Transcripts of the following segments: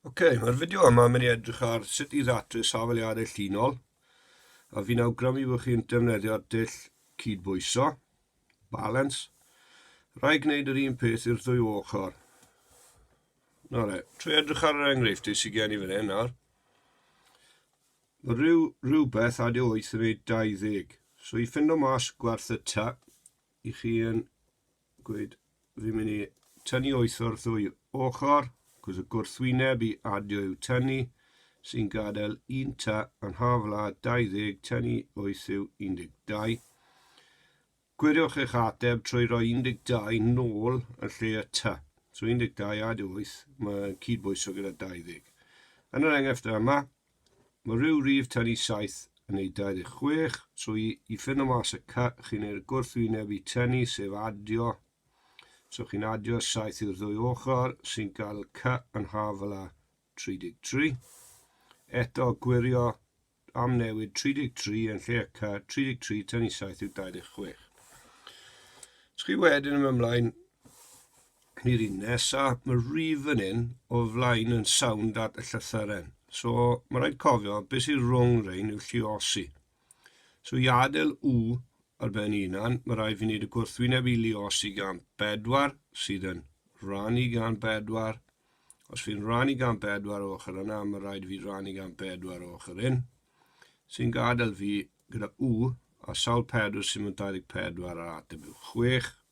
Ok, mae'r fideo yma yn mynd i edrych ar sut i ddatrys safeliadau llinol a fi'n awgrymu bod chi'n defnyddio dull cydbwyso, balance. Rai gwneud yr un peth i'r ddwy ochr. Na re, trwy edrych ar yr enghreifftu sy'n gen i fan hyn nawr. Mae rhyw, rhywbeth AD8 yn ei 20. So i ffindo mas gwerth y ta, i chi yn gweud, fi'n mynd i tynnu wyth o'r ddwy ochr, cos y gwrthwyneb i adio yw tynnu, sy'n gadael un ta yn hafla 20, tynnu wyth yw 12. Gwiriwch eich ateb trwy roi 12 nôl yn lle y ta. So 12 adio 8, mae'n cydbwyso gyda 20. Yn yr enghraifft yma, Mae rhyw rif tan i saith yn ei 26 trwy i ffinno mas y cy chi'n neu'r gwrthwyneb i tynnu sef adio. So chi'n adio saith i'r ddwy ochr sy'n cael y cy yn haf fel a 33. Eto gwirio am newid 33 yn lle y cy 33 tan i saith yw 26. Os chi wedyn yn ymlaen Cynnyr un nesa, mae'r rif yn un o flaen yn sownd at y llythyren. So, mae rhaid cofio beth sy'n rhwng rhain yw lliosi. So, i adael u ar ben unan, mae rhaid fi wneud y gwrthwyneb i lliosi gan 4 sydd yn rannu gan 4. Os fi'n rannu gan 4 o ochr yna, mae rhaid fi rannu gan 4 o ochr un, sy'n gadael fi gyda u a sawl 4 sy'n mynd 24 ar ateb yw 6.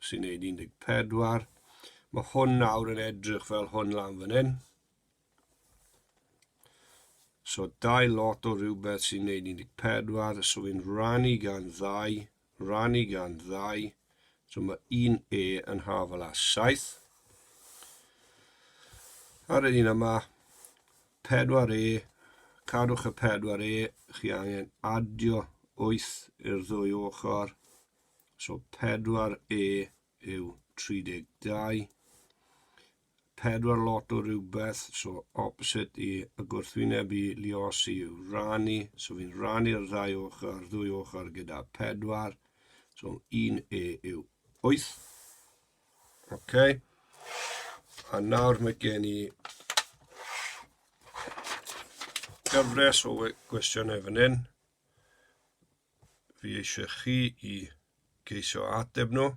sy'n gwneud 14. Mae hwn nawr yn edrych fel hwn lan fan hyn. So dau lot o rhywbeth sy'n gwneud 14, so fi'n rannu gan ddau, rannu gan ddau, so mae un E yn hafel â 7. Ar yr un yma, 4E, cadwch y 4E, chi angen adio 8 i'r ddwy ochr, So 4E yw 32. 4 lot o rhywbeth, so opposite i y gwrthwyneb i liosi yw rannu. So fi'n rannu'r ddau ochr, ddwy ochr gyda 4. So 1E yw 8. OK. A nawr mae gen i gyfres o gwestiynau fan hyn. fi eisiau chi i geisio ateb nhw.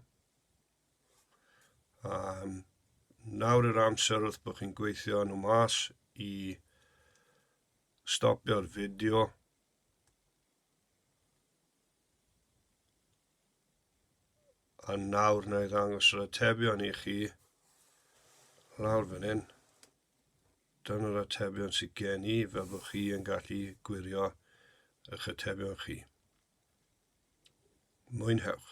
Um, nawr yw'r amser wrth bod chi'n gweithio nhw mas i stopio'r fideo. A nawr na i ddangos yr atebion i chi lawr fan hyn. dan yr atebion sydd gen i fel bod chi yn gallu gwirio eich atebion chi. Mwynhewch!